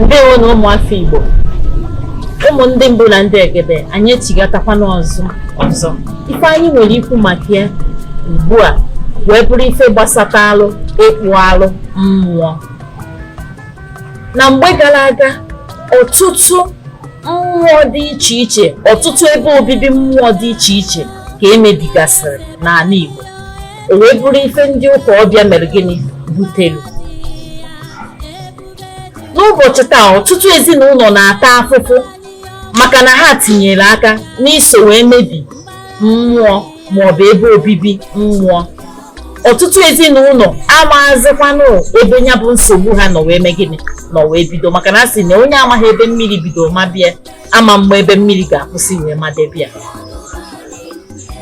ndewonụ ụmụafọ Igbo ụmụ ndị mbụ na ndị egede anyị echigatakwana ọzọ ife anyị nwere ikwu maka ya ugbu a wee bụrụ ife gbasatalụ ịkpụ alụ mmụọ na mgbe gara aga ọtụtụ mmụọ dị iche iche ọtụtụ ebe obibi mmụọ dị iche iche ka emebigasịrị n'ala Igbo o wee bụrụ ife ndị ụka ọbịa mere gịnị butere n'ụbọchị taa ọtụtụ ezinụlọ na-ata afụfụ maka na ha tinyere aka n'iso wee mebi mmụọ maọbụ ebe obibi mmụọ ọtụtụ ezinụlọ amaghazikwanụ ebe ya bụ nsogbu ha nọ wee mee gịnị nọ wee bido maka na a sị na onye amaghị ebe mmiri bido mabe ya ama ama ebe mmiri ga-akwụsị wee madebe ya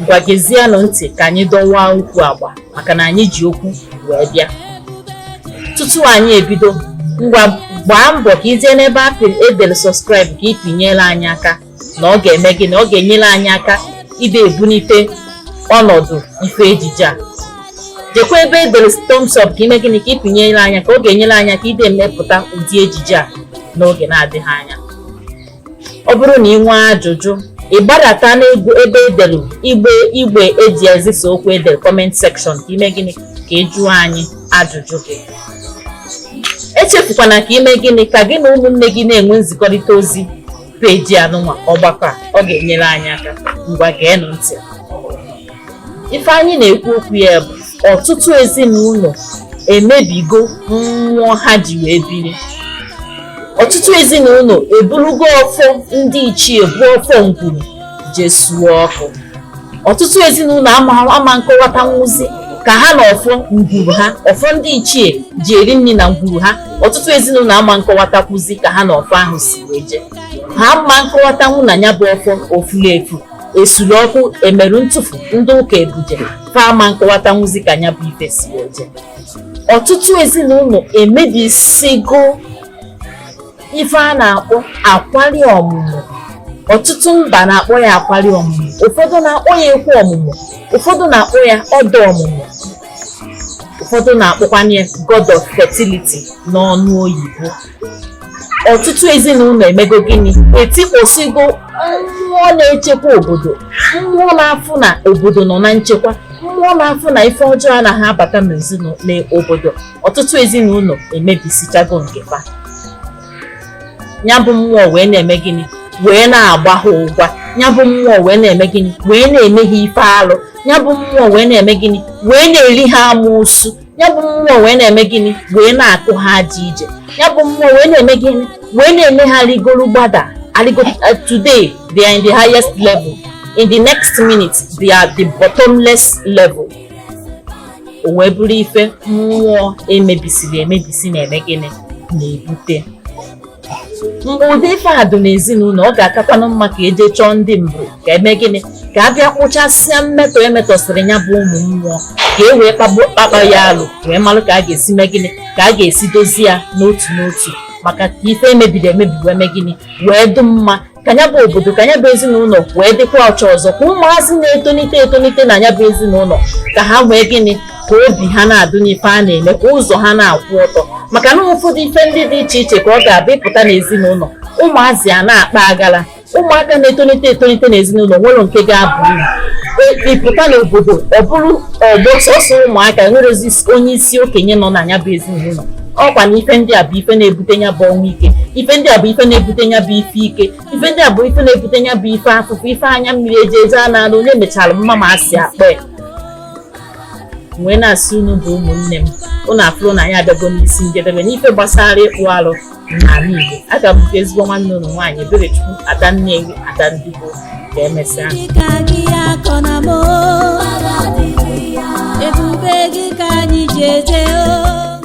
ngwa gezienụ ntị ka anyị dọwa okwu agba maka na anyị ji okwu wee bịa tutu anyị ebido ngwa gbaa mbọ ka ị jee n'ebe edere subscribe ka ị pịnyere anyị aka na ọ ga-eme gịnị ọ ga-enyere anyị aka ide ebunite ọnọdụ ife ejije a jekwa ebe e dere thumbs up ka ime gịnị ka ị pịnyere anyị aka ọ ga-enyere anyị aka ide emepụta ụdị ejije a n'oge na-adịghị anya ọ bụrụ na ị nwee ajụjụ ị gbadata n'ebe edelu igbe eji ezisa okwu edel comment section ka ime gịnị ka ị jụọ anyị ajụjụ gị echefukwana ka ime gịnị ka gị na ụmụnne gị na-enwe nzikọrịta ozi page anụnwa ọgbakọ a ọ ga-enyere anyị aka ngwa geenụ ntị ife anyị na-ekwu okwu ya bụ ọtụtụ ezinụlọ emebigo mmụọ ha ji wee biri ọtụtụ ezinụlọ eburugo ọfọ ndị ichie bụ ọfọ ngwuru je suo ọkụ ọtụtụ ezinụlọ ama nkọwatanwuzi ka ha na ọfọ ngwuru ha ọfọ ndị ichie ji eri nri na ngwuru ha ọtụtụ ezinụlọ ama nkọwatakwuzi ka ha na ọfọ ahụ si wee jee ha ama nkọwatanwu na ya bụ ọfọ o furu efu esuru ọkụ emere ntufu ndị ụka ebuje fa ama nkọwatanwuzi ka nya bụ ife si eje ọtụtụ ezinụlọ emebisigo ife a na-akpọ akwari ọmụmụ ọtụtụ mba na-akpọ ya akwari ọmụmụ ụfọdụ na-akpọ ya ekwu ọmụmụ ụfọdụ na-akpọ ya ọda ọmụmụ ụfọdụ na-akpọkwana ya god of fertility n'ọnụ oyibo ọtụtụ ezinụlọ emego gịnị etikpọsigo mmụọ na-echekwa obodo mmụọ na-afụ na obodo nọ na nchekwa mmụọ na-afụ na ife ọjọọ anaghị abata n'obodo ọtụtụ ezinụlọ emebisichago nke fa ya bụ mmụọ wee na-eme gịnị wee na-agba ha ụgwa ya bụ mmụọ wee na-eme gịnị wee na-eme ha ife alụ ya bụ mmụọ wee na-eme gịnị wee na-eri ha amosu ya bụ mmụọ wee na-eme gịnị wee na-akụ ha aja ije ya bụ mmụọ wee na-eme gịnị wee na-eme ha rigoro gbada today they are in the highest level in the next minute they are the bottomless level o wee bụrụ ife mmụọ emebisiri emebisi na-eme gịnị na-ebute mgbe ụdị ife a dụ n'ezinụlọ ọ ga-akakwanụ mma ka e je chọọ ndị mbụ ka e mee gịnị ka a bịa kpụchasịa mmetọ emetọsịrị ya bụ ụmụ mmụọ ka e wee kpakpa ya alụ wee malụ ka a ga-esi mee gịnị ka a ga-esi dozie ya n'otu n'otu maka ka ife emebiri emebi wee mee gịnị wee dụ mma ka ya bụ obodo ka ya bụ ezinụlọ wee dịkwa ọcha ọzọ ka ụmụazị na-etonite na ya bụ ezinụlọ ka ha wee gịnị ka obi ha na-adụ n'ife a na-eme ka ụzọ ha na-akwụ ọtọ maka na ụfọdụ ife ndị dị iche iche ka ọ ga-abụ ị pụta n'ezinụlọ ụmụazị a na-akpa agala ụmụaka na-etonite n'ezinụlọ nwere nke ga-abụ uru ị pụta n'obodo ọ bụrụ ọgbọ sọsọ ụmụaka nwerezi onye isi okenye nọ na ya bụ ezinụlọ ọ kwa na ife ndị a bụ ife na-ebute ya bụ ọnwụ ike ife ndị a bụ ife na-ebute ya bụ ife ike ife ndị a bụ ife na-ebute ya bụ ife afụfụ ife anya mmiri eji eje a na-alụ onye mechara mma ma asị akpa ya wee na-asị unu bụ ụmụnne m unu afụrụ na anyị abịago n'isi njedebe n'ife gbasara ịkpụ alụ n'ala Igbo aga m nke ezigbo nwanne unu nwaanyị Eberechukwu Ada Nnewi Ada Ndigbo ka emesịa ebube gị ka anyị ji eje o